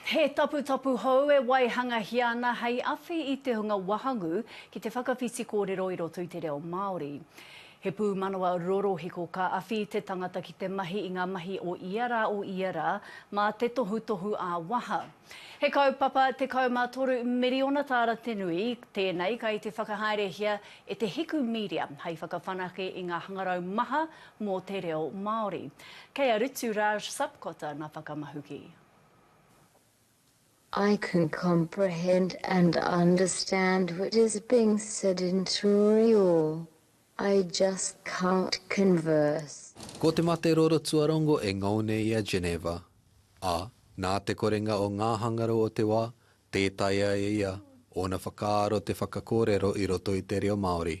He taputapu hou e waihangahia ana hei awhi i te hunga wahangū ki te whakawhiti kōrero i roto i te reo Māori. He pūmanawa rorohiko ka awhi te tangata ki te mahi i ngā mahi o ia rā o ia rā mā te tohutohu ā-waha. He kaupapa 13 miriona tāra te nui, tēnei kei te whakahaerehia e Te Hiku Media hei whakawhanake i ngā hangarau maha mō te reo Māori. Kei a Rutu Raj Sapkota ngā whakamahuki. I can comprehend and understand what is being said in Turiua, I just can't converse. Ko te mate roro tuarongo e ngau nei i a Geneva, ā, nā te korenga o ngā hangarau o te wā, tē taea e ia ōna whakaaro te whakakōrero i roto i te reo Māori.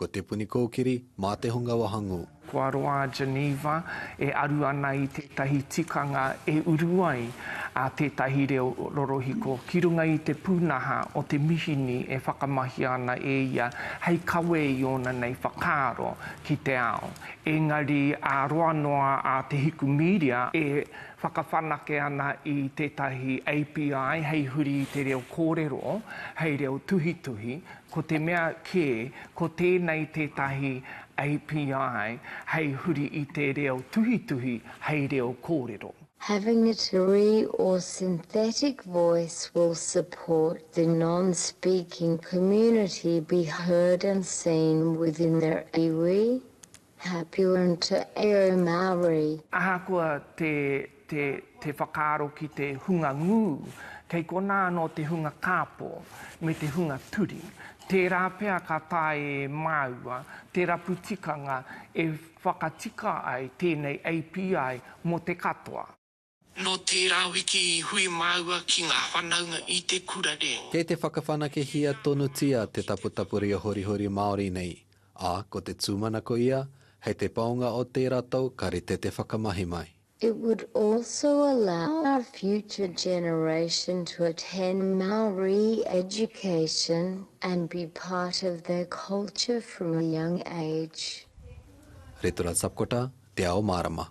Ko Te Puni Kōkiri, mā te hunga wahangū. Ko Aroā Geneva e aru ana i tētahi tikanga e uru ai tētahi reo rorohiko ki runga i te pūnaha o te mihini e whakamahia ana e ia hei kawe i ōna nei whakaaro ki te ao. Engari ā roa noa a Te Hiku Mīria e whakawhanake ana i tētahi API hei huri i te reo kōrero hei reo tuhituhi, Ko te mea kē, ko tēnei tētahi API hei huri i te reo tuhituhi hei reo kōrero. Having a turi or synthetic voice will support the non-speaking community be heard and seen within their iwi, Happy winter e au Māori. Ahakoa te, te, te whakaaro ki te hunga ngū, kei konā anō te hunga kāpō, me te hunga turi. Tērā pea ka taea e māua te rapu tikanga e whakatika ai tēnei API mō te katoa. Nō tērā wiki i hui māua ki ngā whanaunga i te kura reo. Kei te whakawhanakehia tonutia te taputapu reo horihori Māori nei, ā, ko te tūmanako ia, hei te paunga o tērā tau ka rite te whakamahi mai. It would also allow our future generation to attend Māori education and be part of their culture from a young age. Retura Sapkota, Te Ao Mārama.